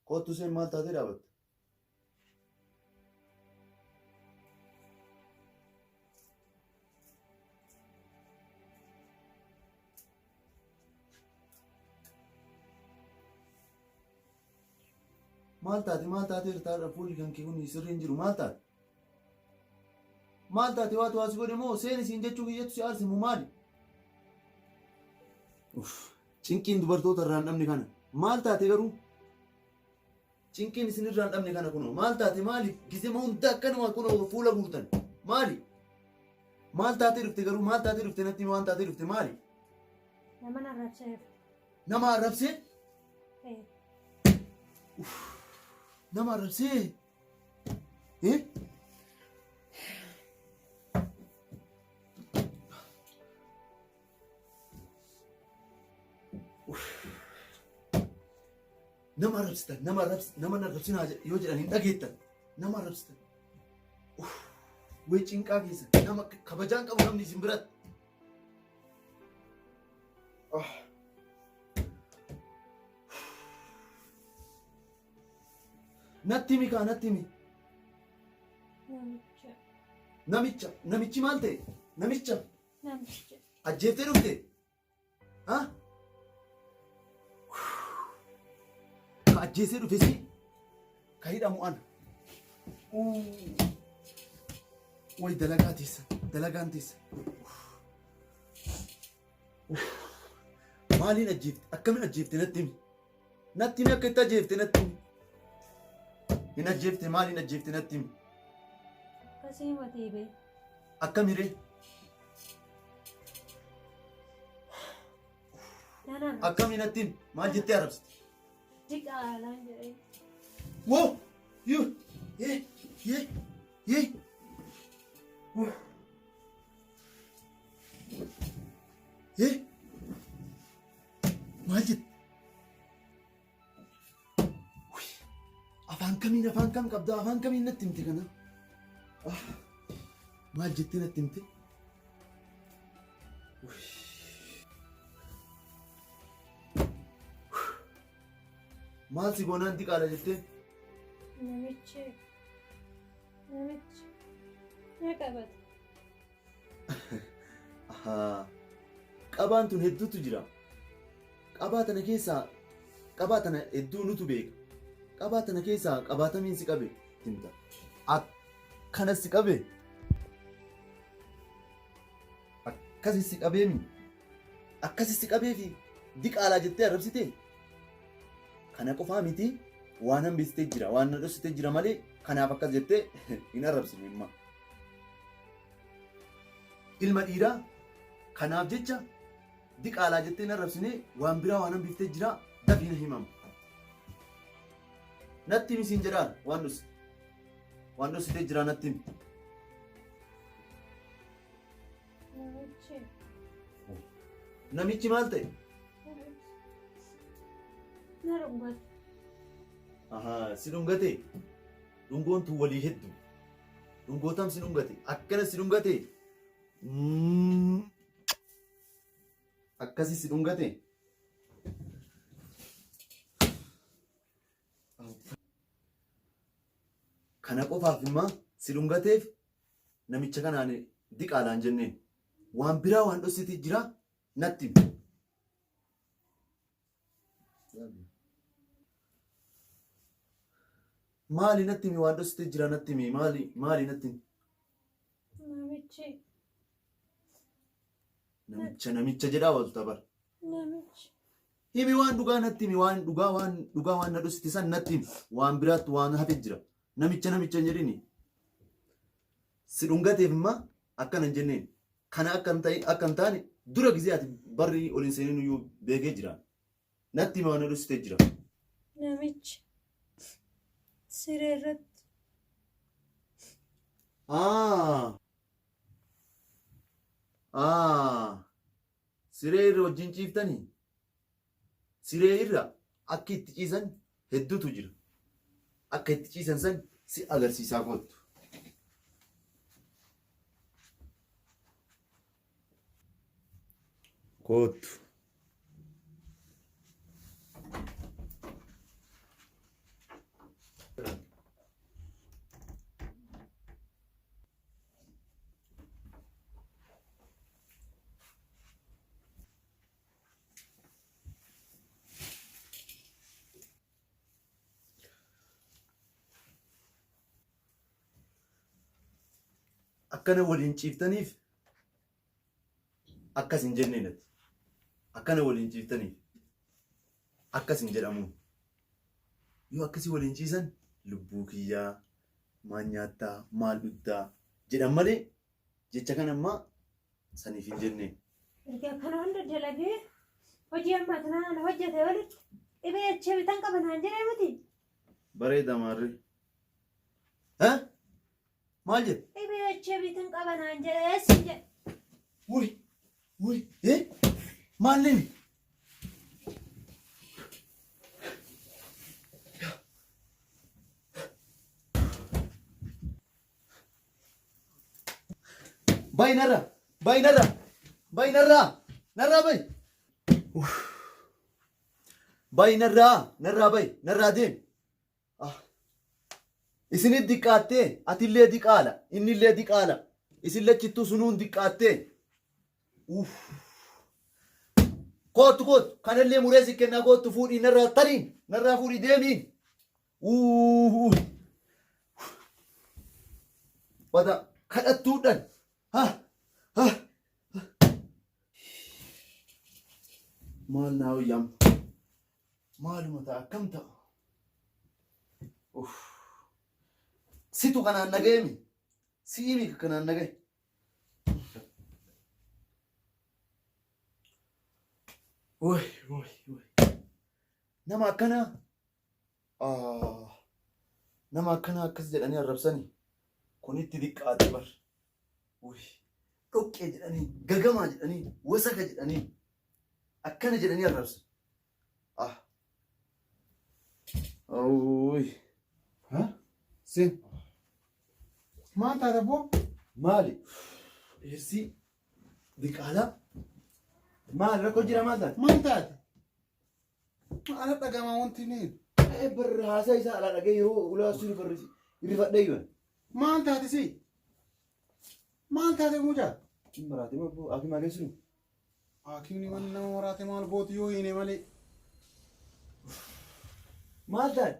Kottu isheen maal taatee dhaabatte? Maal taate maal taatee irtaadha fuulli kan kee kun sirrii hin jiru maal taate? Maal taate waatu waasi godhe moo seeni siin jechuu kiyyatu si aarse moo maali? Uff cinqiin dubartoota irraan dhabne kana maal taate garuu? Cinqiin isin irraan dhabne kana kunoo maal taate maaliif gizema hunda akkanuma kunoo fuula guurtan maali? Maal taate dhufte garuu maal taate dhufte natti waan taate dhufte maali? Nama na rabseef. Nama arrabsee? Nama arrabsee? Nama arrabsitan, nama arrabsitan, nama na arrabsin haa jedh- yoo jedhan hin dhageettan. Nama arrabsitan. Uff, Wee cinqaa keessa nama k- kabajaan qabu namni isin biratti. Ah. Natti himi kaa natti himi. Namicha. Namicha. Namichi maal ta'e? Namicha. Namicha. Ajjeeftee dhufte? Ha? Ka ajjeesee dhufe si ka hidhamu ana. Way dalagaa teessa. Dalagaan teessa. Maaliin ajjeefte? Akkamiin ajjeefte natti himi? Natti himi akka itti ajjeefte natti himi. Hin ajjeefte maal hin ajjeefte natti himi. Akkasii matee bee. Akkamiree Nan arra. akkamii natti himi maal jettee arabsite. Diqaalaan jedhee. Wo yu ye ye ye. Wo. Ye. Maal jette? Wuy, Afaan kamiin afaan kam qabda afaan kamiin natti himte kana? Ah, Maal jettee natti himte? Wuy. Maal si goonaan diqaala jettee? Namichi namichi na qabate. Ahaa. Qabaan tun hedduutu jira. Qabaa tana keessaa qabaa tana hedduu nutu beeka. Qabaa tana keessaa qabaatamiin si qabe himta. Akkana si qabe. Akkasi si qabeemi. Akkasi si qabeefi diqaalaa jettee arrabsite. Kana qofaa miti waan hambistee jira waan na dhoksitee jira malee kanaaf akkas jettee hin arrabsine imma. Ilma dhiiraa kanaaf jecha diqaalaa jettee na rabsinee waan biraa waan hambiftee jira dafii na himam. Natti himi siin jedhaara waan dhosite. Waan dhositee jira natti himi. Namichi. Namichi maal ta'e? Na dhungate. Ahaa si dhungatee? Dhungoon tun walii heddu. Dhungoo tam si dhungate. Akkana si dhungate. Mm. Akkasi si dhungate. Kana qofaaf imma si dhungateef namicha kanaan diqaalaan jenneen. Waan biraa waan dhossiti jira natti. himi. Maali natti himi waan dhositee jira natti himi maali maali natti himi. Namichi. Namicha namicha jedhaa oolta bara. Namichi. Himi waan dhugaa natti himi waan dhugaa waan dhugaa waan na dhosite san natti himi waan biraatti waan hafe jira. Namicha namicha hin jedhini. Si dhungateef imma akkana hin jenneen. kana akka hin ta'in akka hin taane dura gizee ati barri ol hin seenin iyyuu beekee jira. Natti hima waan dhussitee jira. Namichi siree irratti Aa! Aa! Siree irra wajjin ciiftanii? Siree irra akki itti ciisan heddutu jira. Akka itti ciisan san si agarsiisaa koottu. Koottu. akkana waliin ciiftaniif akkas hin jennee natti akkana waliin ciiftaniif akkas hin jedhamu yoo akkasii waliin ciisan lubbuu kiyyaa maal nyaattaa maal dhugdaa jedhan malee Jecha kana ammaa saniif hin jennee. Erga kana hunda dalagee hojii ammaa kana ana hojjete walitti dhibee echee bitan qaba naan jedhee miti. Bareeda maarree. Ha? Maal jedhe? Dhibee echee bitan qaba naan jedhee siin jedhe. Wuy! Wuy! Eh? Maalleen? Bay narra. Bay narra. Bay narra. Narra bay. Uff. Bay narra. Narra bay. Narra deem. Ah. Isinit diqqaattee atillee diqaala innillee diqaala isin lachittuu sunuun diqqaattee. Uff. Kootu kootu kanallee muree si kennaa kootu fuudhii narraa tariin narraa fuudhii deemiin. Uuuuh. Wata kadhattuudhan. Ha ha. Maal naa hoyyam. Maaluma ta'a akkam ta'a. Uff. Situ kanaan nagayemi. Si'imi kanaan nagay. Woy woy woy. Nama akkanaa. Ah, nama akkanaa akkas jedhanii arrabsani kun itti diqqaate bar Uy, dhoqqee jedhanii gagamaa jedhanii wasaka jedhanii akkana jedhanii arrabsan ah Uy, Ha? Sin. Maal taata boo? maali dhiirsii diqaalaa maal rakkoo jira maal taate Maal taate? Maala dhagama wanti ni. Ee barri haasaa isaa alaa dhagee yeroo ulaa suni barri irrifadhee yoon. Maal taate si? Maal taate mucaa? Cin maraatee ma boo akii maalee sunu. Haakimni waan nama maraate maal gooti yoo hiine malee. Maal taate?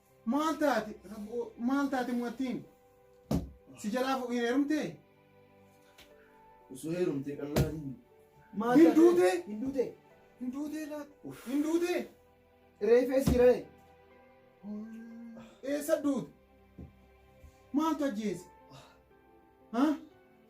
Maal taate? Rabboo maal taate mu'attiin? Si jalaa fu- hin heerumtee? Osoo heerumtee qal'aa hin. Maal Hin taate? duutee? Hin duutee? Hin duutee laata? Hin duutee? Reefee si ra'e. Eessa duute? Maaltu ajjeese? Haa?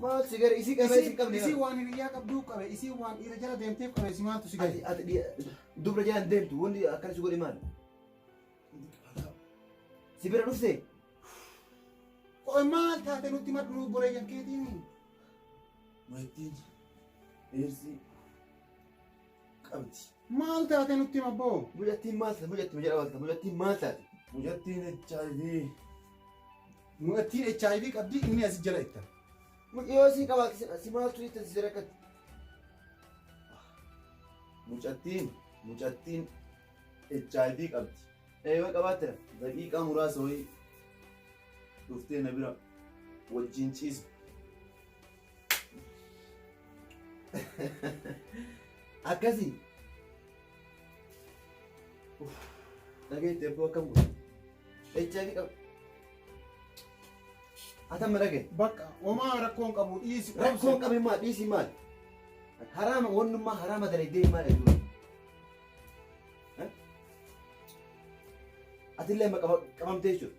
Maal si gara isii qabee si qabne. Isii waan hiriyyaa qabduu qabe isii waan dhiira jala deemteef qabe si maaltu si gadi. Ati ati dubra jalaan deemtu wanti akkana si godhe maal? Si bira dhufte? Qoy maal taate nutti madhuu boreeyyan keetiin. Maittiin. Eersii. qabdi. Maal taate nutti hima boo? Mucattiin maal taate? Mucattiin jedha maal taate? Mucattiin maal taate? Mucattiin HIV. Mucattiin HIV qabdi inni asi jala itta. Mucayyoo sii qabaa keessan si maaltu itti si rakkatti? Mucattiin mucattiin HIV qabdi. Eeyyoo qabaattira. Daqiiqaa muraasa wayii dhuftee na bira wajjin ciisa. Akkasii. Dhageetti ebboo akkam godhe. HIV qaba. Atam dhage. Bakka homaa rakkoon qabu dhiisi. Rakkoon qabu maa dhiisi maal? Haraama wannummaa haraama dalagdee maal eeguudha? Atillee qabamtee jechuudha.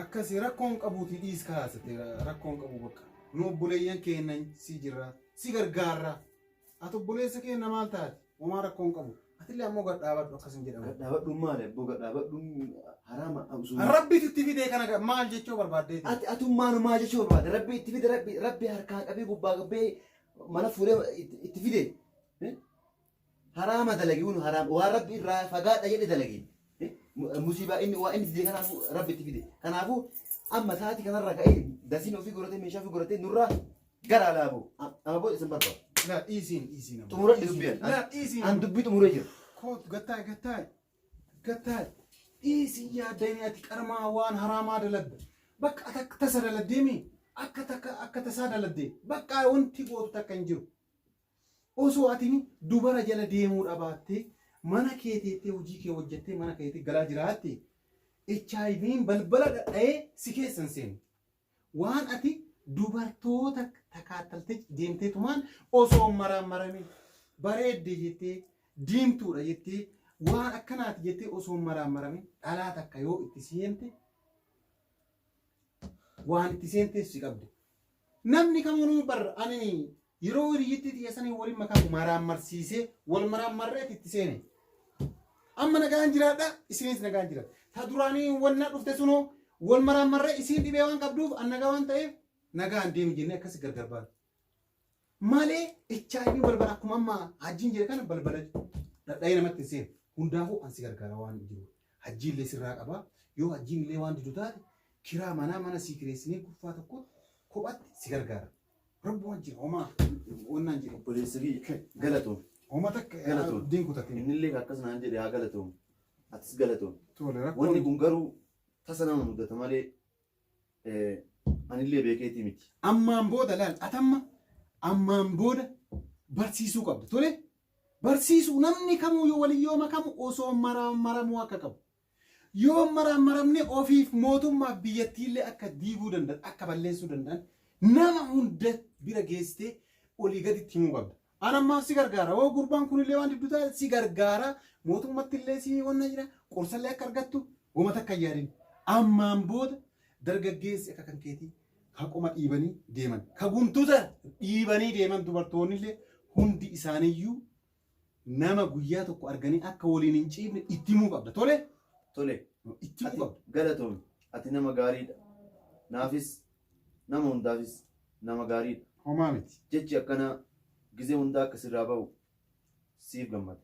Akkasi rakkoo hin qabuuti dhiis kaa sete rakkoo hin qabu bakka nu obboleeyyan keenna si jirra si gargaarra ati obboleessa keenna maal taate homaa rakkoo hin qabu atillee ammoo gad dhaabadhu akkas hin jedhamu. Gadhaabadhuun maali abboo gadhaabadhuun haraama absuun. Rabbitu itti fidee kana ga- maal jechuu barbaaddeeti? Ati atummaan maa jechuu barbaada rabbi itti fide rabbi rabbi harkaa qabee gubbaa qabee mana fuudhee itti- itti fide. Eh? haraama dalagiun haraam waan rabbi irraa fagaadha jedhe dalage musiibaa inni waa inni dide kanaafuu rabbi itti fide kanaafuu amma saati kanarra ka'ee dasiin ofii godhatee meeshaa ofii godhatee nurraa gara alaaboo amma booda isin barbaadu Laa dhiisiin dhiisiin amma. xumuran dubbiin Laa dhiisiin. an dubbii xumuree jira Kootu gattaay gattaay gattaay dhiisiin yaadanii ati qarmaa waan haraamaa daladda. Bakka ati akka tasa daladdeemi akka takka akka tasaa daladdee bakka wanti gootu takka hin jiru. Osoo atini dubara jala deemuu dhabaatte, mana kee teettee hujii kee hojjattee mana keeti galaa jiraatte, HIVn balbala dhadhayee si keessa hin seenu. Waan ati dubartoota takaattaltee deemteetumaan osoo hin maraammaramin, bareedde jettee, diimtuudha jettee, waan akkanaati jettee osoo hin maraammaramin dhalaa takka yoo itti seente, waan itti seenteef si qabde. Namni kamunuu bar ani Yeroo hiriyyittii tiyya saniin waliin makaa maraammarsiisee wal maraammarreeti itti seene. Amma nagaan jiraadha isinis nagaan jiraadha. Ta duraanii wannaa dhufte sunoo wal maraammarree isiin dhibee waan qabduuf an nagaa waan ta'eef nagaan deemi jennee akkasi gargar baana. Malee HIV balbala akkuma amma hajjiin jedhe kana balbala dhadha'ee namatti hin seenu. Hundaafuu an si gargaara waan jiru. Hajjiin illee sirraa qaba. Yoo hajjiin illee waan didu taate kiraa manaa mana sii kireessinee kuffaa tokko kophatti si gargaara. Rabbu wajji homaa wannaan jedhe. Obboleessa kiyya galatoom. Homa takka Galatoon. diin kutatin. Innillee akkas naan jedhe haa galatoom. Atis galatoom. Tole Wanni rakkoon kun garuu tasa nama mudata malee eh, anillee beekeetii miti. ammaan booda laal atamma ammaan booda barsiisuu qabda tole barsiisuu namni kamuu yoo walin yoo makamu osoo mara- maramuu akka qabu Yoo maraammaramne ofiif mootummaaf biyyattiillee akka diiguu danda'an akka balleessuu danda'an nama hunda bira geessitee olii gaditti himuu qabda. An ammaaf si gargaara hoo gurbaan kunillee waan diddu taate si gargaara mootummattillee si wanna jira qorsallee akka argattu woma takka hin yaadin. Ammaan booda dargaggeessi akka kan keetii ka qoma dhiibanii deeman ka guntuta dhiibanii deeman dubartoonnillee hundi isaaniiyyuu Nama guyyaa tokko arganii akka waliin hin ciifne itti himuu qabda. Tole? Tole. Itti himuu qabda. Ati galatoomi. Ati nama gaariidha. Naafis nama hundaafis nama gaariidha. Homaa miti. Jechi akkanaa gizee hundaa akka sirraa ba'u siif gammada.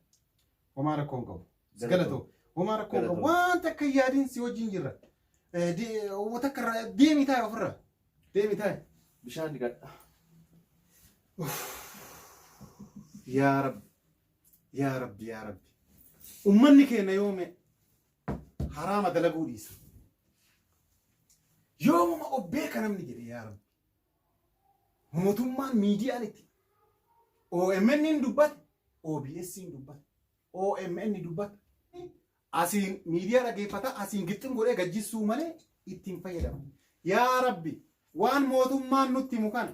Homaa rakkoo hin qabu. Si galatoo. Homaa rakkoo hin qabu. Galatoo. Wanta akka hin yaadin si wajjin jirra. Eh, de- Uummata akka irraa deemi taa'e ofirra. Deemi taa'e bishaan dhiqadha. Yaa Rabbi, yaa Rabbi, yaa Rabbi. Ummanni keenya yoome haraama dalaguu dhiisa. Yoomuma of beeka namni jedhe yaa Rabbi. Mootummaan miidiyaan itti OMN hin dubbate, OBS hin dubbate, OMN dubbate. Asiin miidiyaa dhaggeeffataa asiin gixxim godhee gad jissuu malee itti hin fayyadamu. Yaa Rabbi waan mootummaan nutti himu kana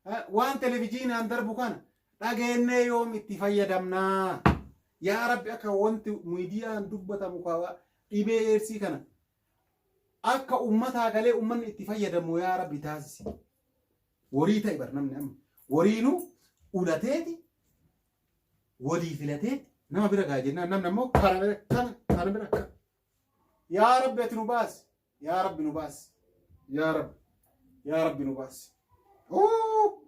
eh, waan televijiinaan darbu kana dhageennee yoom itti fayyadamnaa? Yaa Rabbi akka wanti miidiyaan dubbatamu kawa dhibee eersii kana akka ummataa galee ummanni itti fayyadamu yaa Rabbi taasisi. Warii ta'e bar namni amma wariinu ulateeti walii filatee nama bira gaa jennaan namni ammoo kana bira kana kana bira kana. Yaa Rabbi ati nu baasi. Yaa Rabbi nu baasi. Yaa Rabbi. Yaa Rabbi nu baasi. Huu!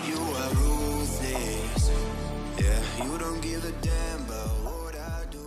You are ruthless. Yeah, you don't give a damn about what I do.